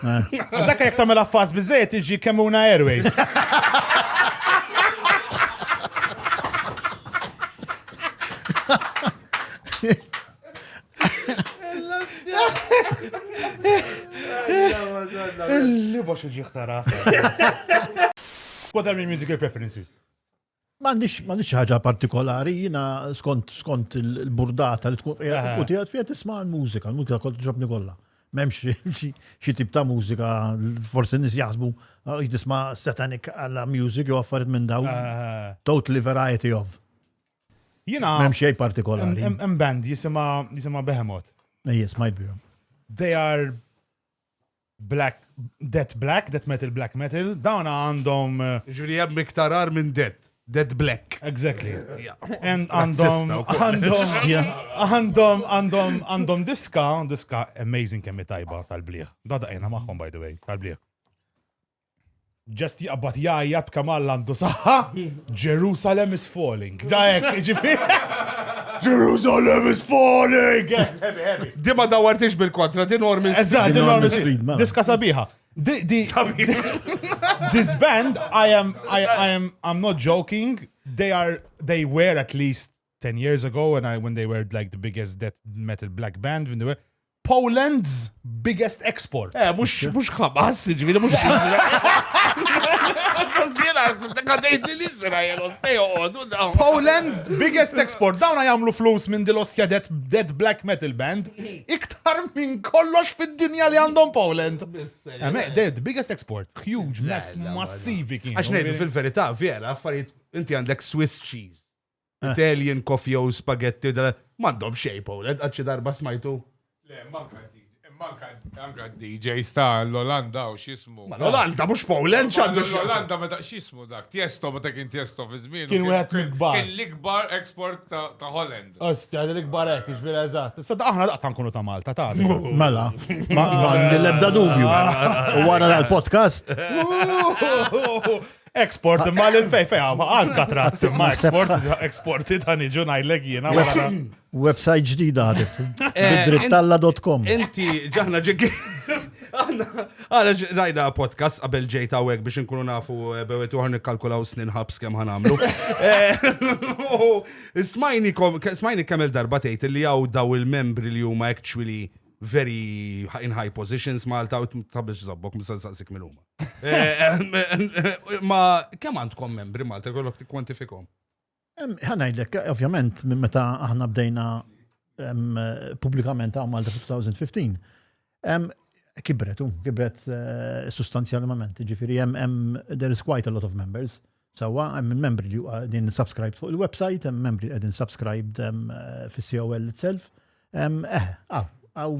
Għax dakka jek tamela fas bizzejt iġi kemmuna airways. Illi box iġi ħtara. What are your musical preferences? M'għandix m'għandix xi ħaġa partikolari, jiena skont skont il-burdata li tkun qiegħed u tiegħed fiha tisma' l-mużika, l-mużika kont ġobni kollha. M'hemmx xi tip ta' mużika, forsi nies jaħsbu ah, jitisma' satanic alla music jew affarijiet minn daw. Totally variety of. Jiena m'hemm xejn partikolari. Hemm band jisimha jisimha Behemoth. Ejjes, ma jbihom. They are Black, Dead Black, Death Metal, Black Metal, dawn għandhom. Ġifieri hemm iktar għar minn Dead. Dead Black. Exactly. Għandhom, għandhom, għandhom, għandhom, għandhom diska, diska amazing kemmi tajba tal-bliħ. Da daqina maħħom, by the way, tal-bliħ. Just jaqbad jgħajjat kemm Alla għandu saħħa, Jerusalem is falling. Da hekk, ġifieri. Jerusalem is falling! Di ma dawartix bil-kontra, di normi. Eżatt, di normi speed, mela. Diska sabiħa. Di, di, this band, I am, I, I am, I'm not joking, they are, they were at least Ten years ago when I when they were like the biggest death metal black band when they were Poland's biggest export. Eh, mux mux xabas, ġivili mux xizra. Poland's biggest export. Dawna jamlu flus minn dil-ostja dead, dead black metal band. Iktar minn kollox fid-dinja li għandhom Poland. Eme, eh, the biggest export. Huge, massivi kien. Għax nejdu fil-verita, vera, affarijiet, inti għandek Swiss cheese. Italian coffee u spaghetti, mandom xej, Pauled, għadxi darba smajtu. Le, manka Anka DJ sta l-Olanda u xismu. Ma l-Olanda mux Poland ċandu. L-Olanda ma ta' xismu dak, tiesto ma ta' kien tiesto fi żmien. Kien wieħed l-ikbar. Kien l-ikbar eksport ta' Holland. Ostja, l-ikbar hekk, ġvir eżatt. Sada aħna daqqa nkunu ta' Malta ta' Mela, ma l-ebda dubju. U wara l-podcast. Export, imma l fej fej, għal katrazz, imma export, exporti ta' niġu najlek jena. Website ġdida għadif. Eh, Drittalla.com. Inti ġahna ġik. Għana rajna podcast qabel ġejt għawek biex nkunu nafu eh, bewet uħar nikkalkulaw snin ħabs kem ħanamlu. Eh, smajni kemm il-darba tgħid li għaw daw il-membri li huma actually very in high positions Malta u tabiex zabbok misal saqsik minn huma. Ma kemm għandkom membri Malta kollok tikkwantifikhom? Ħanajdlek, ovvjament, minn meta aħna bdejna pubblikament għamal 2015, kibret, kibret eh, sustanzjalment, ġifiri, hemm there is quite a lot of members. Sewwa, hemm il-membri li qegħdin subscribed fuq il-website, hemm membri li qegħdin subscribed fis-COL itself. Eh, għaw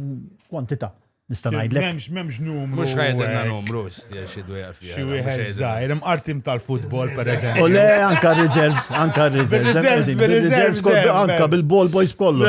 kwantità. Nista' ngħidlek. M'hemmx m'hemmx numru. Mhux ħajdilna numru xi dwejja fiha. Xi wieħed żgħir, hemm artim tal-futbol pereżempju. U le anka reserves, anka reserves. Reserves, reserves. Anka bil-ball boys kollu.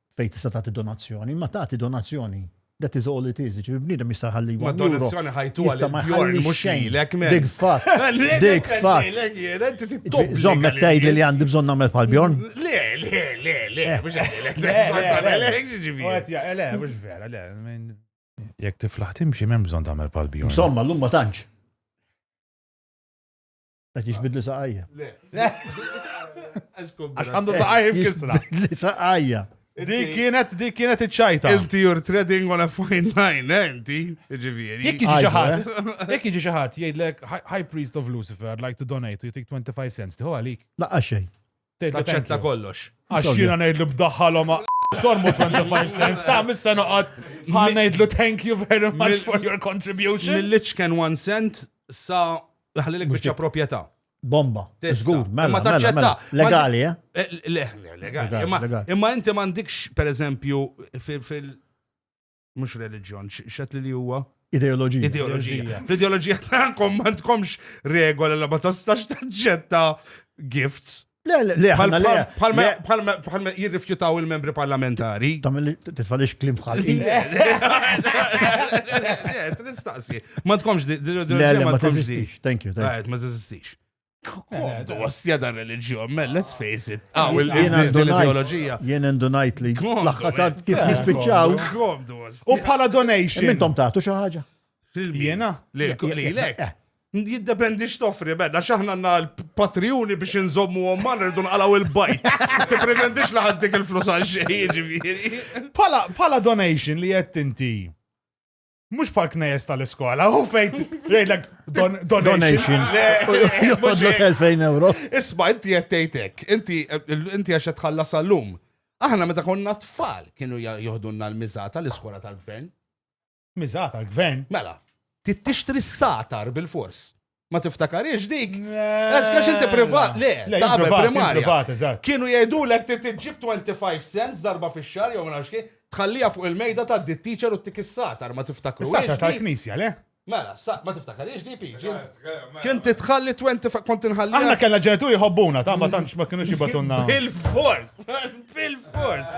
fejn tista' tagħti donazzjoni, imma tagħti donazzjoni. That is all it is, ġifieri bniedem jista' jħalli Ma donazzjoni ħajtu għal Bjorn mhux lilek men. Dik fatt. Dik fatt. Żomm qed tgħid li għandi bżonn nagħmel bħal Bjorn? Le, le, le, le, eh. mhux għalek. Le, le, mhux vera, le. Jekk tiflaħ timxi m'hemm bżonn tagħmel bħal Bjorn. Insomma, llum ma tantx. Qed jiġbidli saqajja. Għax għandu saqajja mkisra. Li saqajja. Dik kienet dik kienet iċ-ċajta. Inti you're treading on a fine line, eh, inti, ġifieri. Jekk jiġi xi ħadd, eh? jekk jiġi xi ħadd jgħidlek High Priest of Lucifer, I'd like to donate, you take 25 cents, tiħu għalik. Laqqa xejn. Taċċetta kollox. Għax jiena ngħidlu b'daħħalhom sormu 25 cents, ta' missa noqgħod bħal ngħidlu thank you very much for your contribution. Mill-liċ kien 1 cent sa ħalli l biċċa proprjetà. Bomba. Żgur, mela, mela, mela, taċċetta. Mela. Eh, legali, eh? Legali. Imma inti m'għandikx, pereżempju, fil- mhux reliġjon, x'għedli li huwa? Ideoloġija. Ideoloġija. Fl-ideoloġija tagħkom ma tkomx regola li ma tastax taċċetta gifts. Le, le, le, bħalma jirrifjutaw il-membri parlamentari. Tamil titfalix klim bħal. Nistaqsi. Ma tkomx di. Le, le, ma teżistix. Thank you. Ma teżistix. Komdu, għastja dan religjon, man, let's face it. Ah, ah jien ideologija. Jien indunajt li. Laħħasad kif eh, nispiċċaw. Komdu, U bħala donation. Mintom taħtu xaħġa. Jena? Li, li, li, Jiddependi x'toffri, bedda, xaħna għanna l-patriuni biex nżommu għomman rridu nqalaw il-bajt. Ti pretendix li ħaddik il-flus għal xejn, ġifieri. Pala donation li jett inti Mux bħal knejes tal-iskola, u fejt, rejlek, donation. Jodlu 2000 euro. Isma, inti jettejtek, inti għaxet tħalla sal-lum. Aħna meta konna tfal kienu joħdunna l-mizata l-iskola tal-gvern. Mizata l-gvern? Mela, tixtri s-satar bil-fors. Ma tiftakariex dik? Għax għax inti privat, le, Le, ta' qabel privat, primarja. privat, eżatt. Kienu jgħidulek ti tiġib 25 cents darba fix-xahar jew ma nafx kif, tħallija fuq il-mejda ta' di teacher u tik is-satar, ma tiftakru. Is-sata tal-knisja, le? Mela, sa- ma tiftakariex di piġi. Kien titħalli 25 kont inħalli. Aħna kellna ġenituri jħobbuna, ta' ma tantx ma kienux jibatunna. Bil-fors, bil-fors,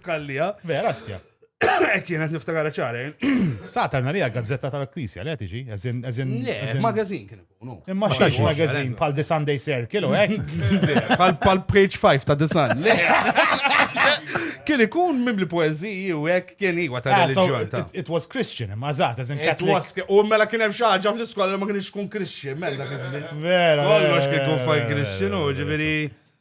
tħallija. Vera, stja. Ek kienet niftakar ċare. Satar narija gazzetta tal-Knisja, le tiġi, eżin, eżin. Le, magazin kien ikunu. Imma xiex magazin pal The Sunday Circle, u ek? Pal page 5 ta' The Sun. Le. Kien ikun mimli poeziji u hekk kien iwa ta' ah, reliġjon ta'. It was Christian, imma zaħt, eżin Catholic. U mela kien hemm xi ħaġa fl-iskola ma kienx kun Christian, mela dak iż-żmien. Vera. Kollox kien kun fajn Christian u ġifieri.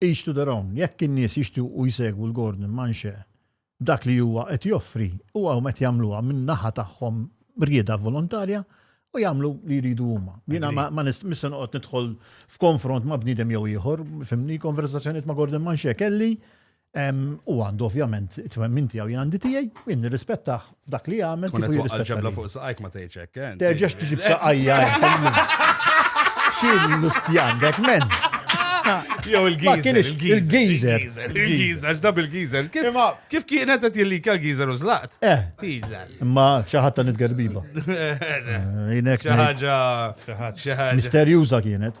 each to their own, jekk in-nies jixtiequ jsegwu l Gordon Manche dak li huwa qed joffri huwa huma qed jagħmluha minn naħa tagħhom rieda volontarja u jagħmlu li jridu huma. Jiena ma nista' noqgħod nidħol f'konfront ma' bniedem jew ieħor, fimni konversazzjonijiet ma' Gordon Manche kelli u għandu ovvjament it-twemmin tiegħu jien għandi tiegħi, jien nirrispettah F'dak li jagħmel kif jirrispetta. Ġebla fuq saqajk ma tgħidx hekk. Eh, Terġax tiġib saqajja. Xil l-ustjan, dek men. Jew il-gizer. Il-gizer. Il-gizer, dab il-gizer. Kif kienet qed jillika l-gizer u zlaqt? Eh. Imma xi ħadd nitgerbiba. Jinek. Xi ħaġa. Misterjuża kienet.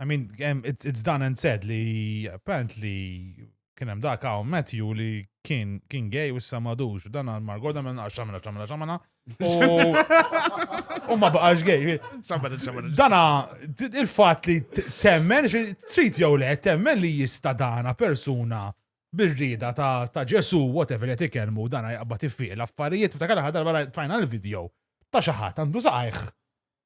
I mean, em, it's, it's done and said li apparently kien hemm dak hawn Matthew li kien kien gay u issa madux u dan għal Margoda minn għax xamela xamela xamela u u ma baqax gay. Xamela, xamela. Dana t- il-fatt li t- temmen xi- trid jew le temmen li jista' dana persuna bir-rieda ta' ta' Ġesu whatever qed ikellmu dana jaqbad iffiq l-affarijiet ftakar l-aħħar darba rajt- tfajna l-video ta' xi ħadd għandu saqajh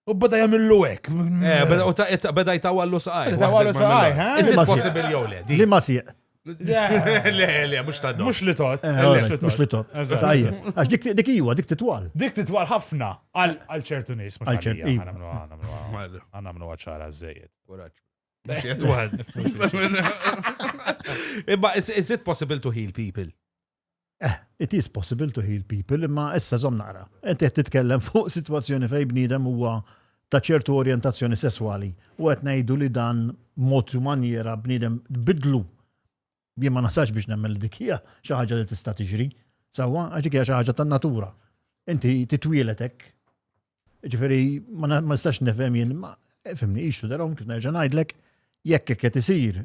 U bada jamillu hekk. Eh, beda- u ta- ta- beda jtawallu saqaj. Beda jtawallu waħda saqaj, mill-għar. ha? Is it Li ma sieq. possible jew le? Di. Li ma sieq. Le, le, mux ta' Mux li tot. Eh, all right, Mux li tot. Eżatt. Tajjeb. Għax dik- dik iwa, dik titwal. Dik titwal ħafna għal għal ċertu nies. mhux Għal ċert- għalija, iva. għana mnu- għana mnu- Għana mnu għacħara zzejed. Imma is, is it possible to heal people? Eh, it is possible to heal people, imma issa żomm naqra. Inti qed titkellem fuq sitwazzjoni fejn bniedem huwa ta' ċertu orjentazzjoni sesswali u qed ngħidu li dan mod u manjera bniedem tbidlu. Jien ma nasax biex nemmen li dik hija xi ħaġa li tista' tiġri, sewwa għax hija xi ħaġa tan-natura. Inti titwielet hekk. Ġifieri ma nistax nifhem jien ma fimni ixtu darhom kif nerġa' ngħidlek jekk hekk qed isir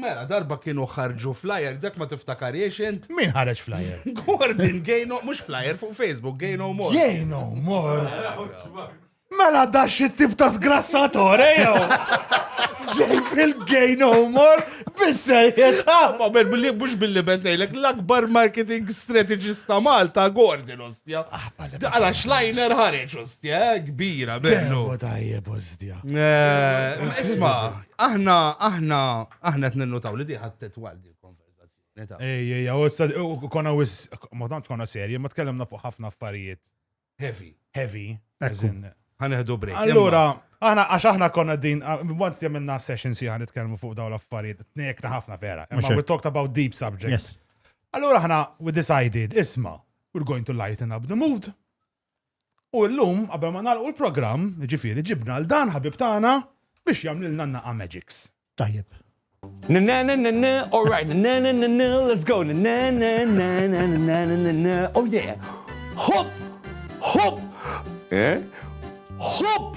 Mela, darba kienu ħarġu flyer, dak ma tiftakariex int? Min ħareġ flyer? Gordon, gay no, mux flyer fuq Facebook, gay no more. Gay no more. Mela da xi tip ta' sgrassatore eh, jew. Ġejb il-gay no more bissejjed. Ah, ma ben billi mhux billi bentejlek l-akbar marketing strategist ta' Malta Gordon ostja. Ah, Għala xlajner ħareġ ostja, eh, kbira bellu. Tajjeb ostja. Eh, isma, Aħna, aħna, aħna qed ninnutaw li diħat tetwal din konverzazzjoni ta'. Ej, ej, u issa u konna wis ma tantx konna serji, ma tkellimna fuq ħafna affarijiet Heavy. heavy. Ekku. as in- Ħaneħdu break. Allura, aħna għax aħna konna din, ah, once li għamilna session si għan nitkellmu fuq dawn l-affarijiet, tnejkna ħafna vera. Mhux Imma hekk. we talked about deep subjects. Yes. Allura aħna, we decided, isma, we're going to lighten up the mood. U llum, qabel ma nagħlqu l-programm, jiġifieri ġibna 'l dan ħabib tagħna biex jagħmlilna n-naqqa magics. Tajjeb. Nanananana all right nanananana let's go nanananananananana oh yeah Hop! Hop! Eh? Hop!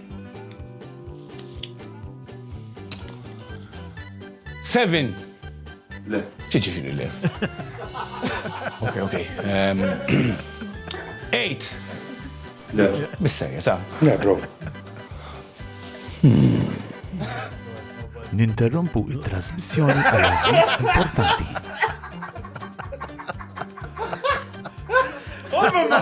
Seven. Le. Ċiċifiri le. Ok, ok. Um, eight. Le. Bisserja, ta. Le, bro. Hmm. Ninterrompu il-trasmissjoni għal avvis importanti. Oh, mamma!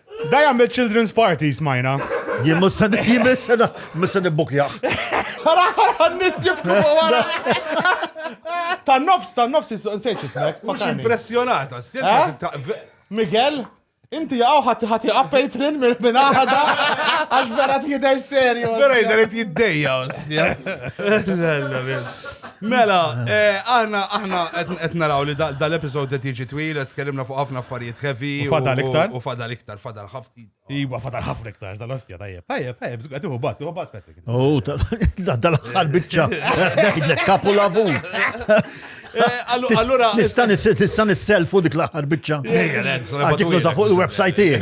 Da jagħmel children's party smajna. Jien mhux se jien mhux se mhux se nibbukjah. Ara ara n-nies jibku wara. Tan nofs, tan nofs nsejt ismek. Mhux impressjonata, eh? Miguel, Inti għaw ħati ħati għappejtrin minn għada għax vera t-jider serju. Vera jider t-jiddeja. Mela, aħna aħna qed naraw li dal-episod qed jiġi twil, qed tkellimna fuq ħafna affarijiet heavy. U fadal iktar. U fadal iktar, fadal ħafna. Iwa, fadal ħafna iktar, tal-ostja, tajjeb. Tajjeb, tajjeb, qed iħu bas, iħu bas Patrick. U tal-aħħar biċċa, ngħidlek kapu lavu. Allura. Nista' nista' nisselfu dik l-aħħar biċċa. Għadik nuża fuq il-websajt tiegħi.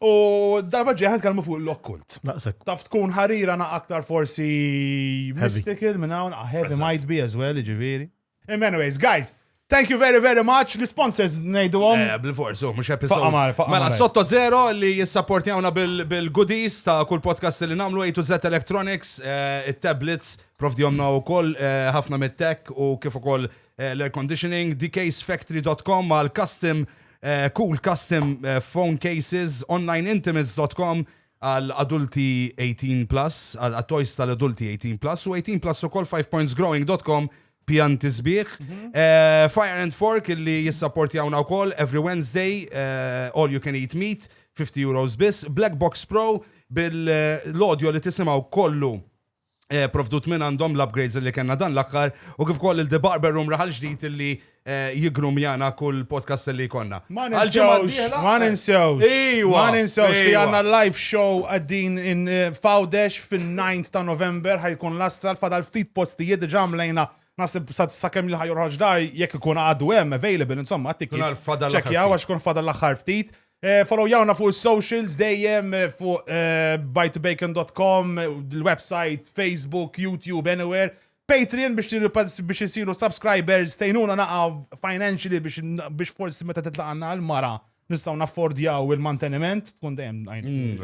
U darba ġeħan kalmu fuq l-okkult. Naqsek. Taf tkun ħarira na aktar forsi mystical minn hawn, ah, heavy might be as well, ġiviri. Anyways, guys, Thank you very, very much. L-sponsors nejdu għom. Eh, Bil-fors, oh, mux episode. Mela, sotto zero li jissapportjawna bil-goodies ta' kull podcast li namlu A to Z Electronics, eh, il-tablets, prof di għomna u koll eh, ħafna mit-tech u kif u koll l-air conditioning, dksfactory.com għal custom Eh, cool custom eh, phone cases onlineintimates.com għal adulti 18 plus, għal toys tal-adulti 18 plus u 18 plus u kol 5pointsgrowing.com pjanti sbieħ. Mhm. Eh, Fire and Fork illi jissapporti għawna u kol every Wednesday, all you can eat meat, 50 euros bis, Black Box Pro bil-audio li tisimaw kollu Eh, provdut minn għandhom l-upgrades li kena dan l-akkar u kif koll il-The Barber Room raħal ġdijt li eh, jigrum jana kull podcast li konna. Ma ninsewx, ma ninsewx. Ma ninsewx li għanna live show għaddin in eh, Fawdex fil-9 ta' November ħajkun l-astral fadal ftit postijiet ġamlejna nasib sakemm li ħajur ħagġdar jekk ikun għadu hemm available insomma għattik. Ċekja għax kun fadal l-aħħar ftit. Eh, follow jawna fuq socials dejjem eh, fuq eh, bytobacon.com, l-website, Facebook, YouTube, anywhere. Patreon biex biex isiru subscribers tejnuna naqa financially biex forsi meta titlaqanna l-mara nistaw naffordjaw il-manteniment, tkun dejjem mm,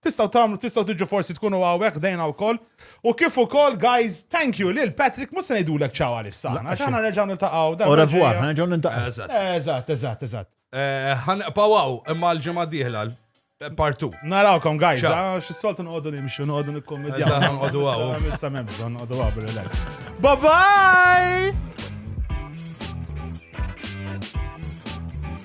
Tistgħu tagħmlu, tistgħu tiġu forsi tkunu hawnhekk ħdejna wkoll. U kif ukoll guys, thank you lil Patrick, mhux se ngħidulek ċaw għalissa. Laqqa Għax xejn. aħna nerġgħu niltaqgħu darba Au revoir, ġejja. ħanerġgħu nintaqgħu. Eżatt. Eżatt, eżatt, eżatt. Eh, Ħanqpaw hawn imma l-ġimgħa d-dieħla partu. Narawkom guys, Ciao. ah, xis-soltu noqogħdu nimxu, noqogħdu nikkommedjaw. Eżatt, ħanqogħdu hawn. Issa m'hemm bżonn noqogħdu hawn bil-relax. Bye bye!